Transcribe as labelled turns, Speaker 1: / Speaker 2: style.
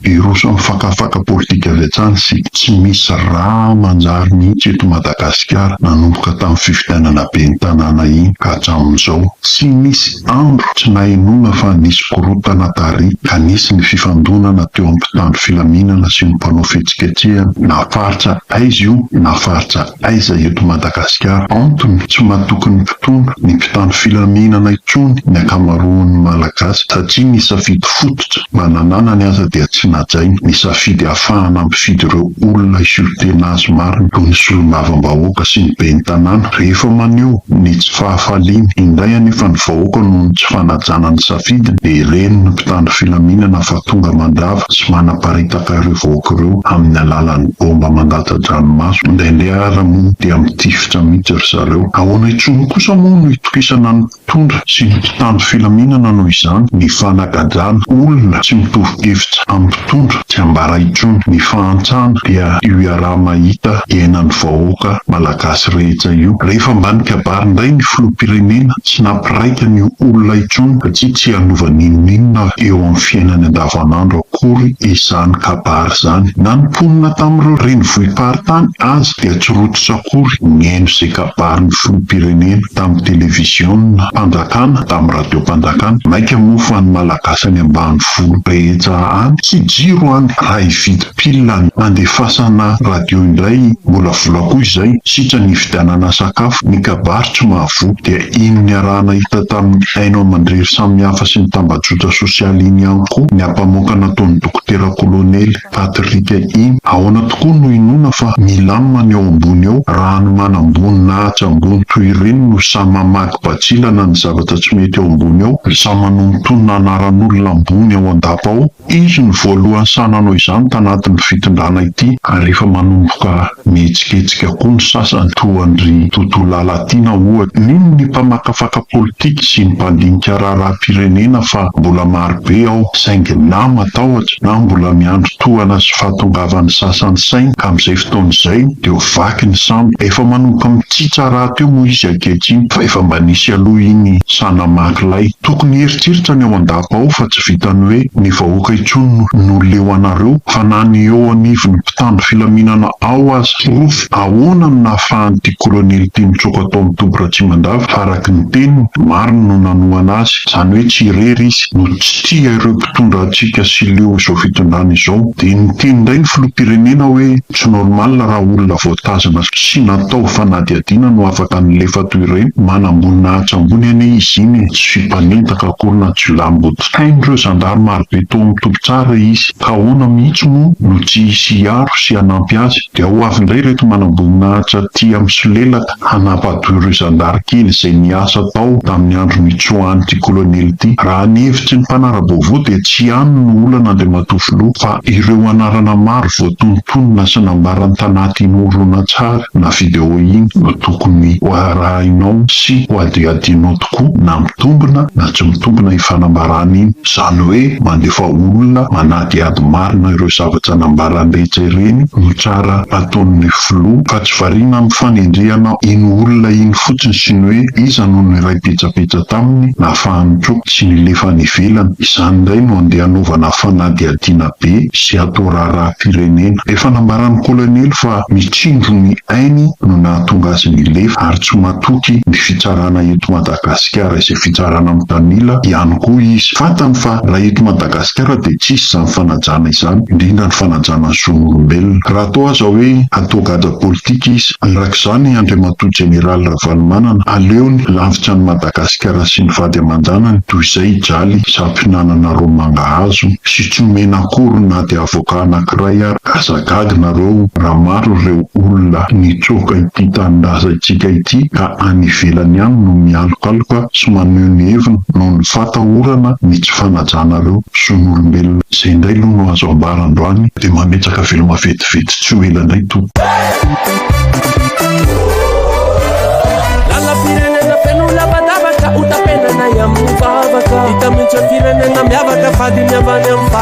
Speaker 1: Virosy mifakafaka politika avy hatrany sy tsy misy ra manjary mihitsy eto Madagasikara nanomboka tamin'ny fifidianana ben'ny tanàna iny ka hatramin'izao. Tsy nisy andro tsy nahenoana fa nisy korontana tary ka nisy ny fifandonana teo amin'ny mpitandro filaminana sy ny mpanao fihetsiketsehana na faritra aiza io na faritra Aiza eto Madagasikara? Antony, tsy matoky ny mpitondra, ny mpitandro filaminana intsony ny ankamaroan'ny Malagasy satria ny safidy fototra mba nananany aza dia tsy najainy, ny safidy hahafahana mifidy ireo olona hisolo tena azy marina toy ny solombavambahoaka sy ny ben'ny tanàna rehefa maneho ny tsy fahafaliany indray anefa ny vahoaka noho ny tsy fanajana ny safidiny dia ren'ny mpitandro filaminana fa tonga mandrava sy manaparitaka ireo vahoaka ireo amin'ny alalan'ny baomba Tadranomaso, indraindray ary moa dia mitifitra mihitsy ry zareo. Ahoana intsony kosa moa no hitokisana ny mpitondra sy ny mpitandro filaminana noho izany? Ny fanagajana olona tsy mitovy hevitra amin'ny mpitondra tsy ambara intsony. Ny fahantrana dia io iaraha-mahita iainan'ny vahoaka malagasy rehetra io. Rehefa mba nikabary indray ny filoham-pirenena, tsy nampiraikany olona intsony satria tsy hanova n'inon'inona eo amin'ny fiainany andavanandro. akory izany kabary izany. Na ny mponina tamin'ireo renivohi-paritany aza dia tsy rototra akory nihaino izay kabarin'ny filoham-pirenena tamin'ny televiziona-panjakana, tamin'ny radiom-panjakana. Maika moa fa ny Malagasy any ambanivolo rehetra any tsy jiro any raha hividy pile handefasana radio indray mbola vola koa izay, sitrany hividianana sakafo. Ny kabary tsy mahavoa dia Iny niaraha-nahita tamin'ny haino aman-drery samihafa sy ny tambajotra sosialy iny ihany koa ny ampamoaka nataon'ny dokotera kolonely Patrick iny. Ahoana tokoa no hinoana fa milamina ny eo ambony eo raha ny manamboninahitra ambony toy ireny no samy mamaky bantsilana ny zavatra tsy mety eo ambony eo, samy manonotonona anaran'olona ambony ao an-dapa ao? Izy no voalohany sahy nanao izany tanatin'ity fitondrana ity. Ary efa manomboka mihetsiketsika koa ny sasany, toa an-dry Toto Lalatiana ohatra. Mino ny mpamakafaka politika sy ny mpandinika raharaham-pirenena fa mbola marobe ao, saingy na matahotra, na mbola miandry tohana sy fahatongavan'ny sasany saingy ka amin'izay fotoana izay dia ho vaky ny sambo. Efa manomboka mitsitsa rahateo moa izy ankehitriny fa efa mba nisy aloha iny sahy namaky lay tokony hieritreritra ny ao an-dafy. Ao fa tsy vitan'ny hoe ny vahoaka intsony no leo anareo fa na ny eo anivon'ny mpitandro filaminana ao aza. Porofo ahoana no nahafahan'ity kolonely ity nitsoaka tao amin'ny toby Ratsimandava fa araka ny teniny, marina no nanohana azy, izany hoe tsy irery izy no tsy tia ireo mpitondra hatsiaka sy leo izao fitondrana izao. Dia niteny indray ny filoham-pirenena hoe tsy normal raha olona voatazana sy natao fanadihadiana no afaka nilefa toy ireny, manam-boninahitra ambony anie izy iny e, tsy mpanendaka. Rakolona Jiolahimboto. Hain'ireo zandary marobe tao amin'ny toby tsara izy, ka ahoana mihitsy moa no tsy hisy hiaro sy hanampy azy? Dia ho avy indray ireto manamboninahitra tia misolelaka hanampahadoa ireo zandary kely izay niasa tao tamin'ny andro nitsoahan'ity kolonely ity. Raha ny hevitry ny mpanara-baovao dia tsy ihany no olana Andriamatoa Filoha fa ireo anarana maro voatonontonona sy nambarany tanaty iny horonantsary na video iny no tokony hoarahinao sy hohadihadianao tokoa na mitombina na tsy mitombina iny fanambarana iny, izany hoe mandefa olona manadihady marina ireo zavatra nambarany rehetra ireny no tsara ataon'ny filoha fa tsy variana amin'ny fanendrehana iny olona iny fotsiny sy ny hoe iza no niray petsapetsa taminy nahafahany koa tsy nilefa any ivelany, izany indray no andeha hanaovana fanadihadiana be sy hatao raharaham-pirenena. Efa nambaran'ny kolonely fa ny tsindron'ny ainy no nahatonga azy nilefa ary tsy Natoky ny fitsarana eto Madagasikara izay fitsarana mitanila ihany koa izy. Fantany fa raha eto Madagasikara dia tsy hisy izany fanajana izany, indrindra ny fanajana ny zon'olombelona. Raha toa aza hoe hatoa gadra politika izy, araka izany, Andriamatoa Jeneraly Ravalomanana, aleony lavitra an'i Madagasikara sy ny vady aman-janany toy izay i Jaly, Zampinanana Roa Mangahazo, sy tsy omena akory na dia avocat anankiray ary. Aza gaga nareo raha maro ireo olona nitsoaka ity tanindrazan itsika ity ka any ivelany any no mialokaloka sy maneho ny heviny noho ny fata orana ny tsy fanajanareo zon'olombelona zay ndray loha no azo ambara androany de mametraka veloma vetivety tsy ho ela ndray to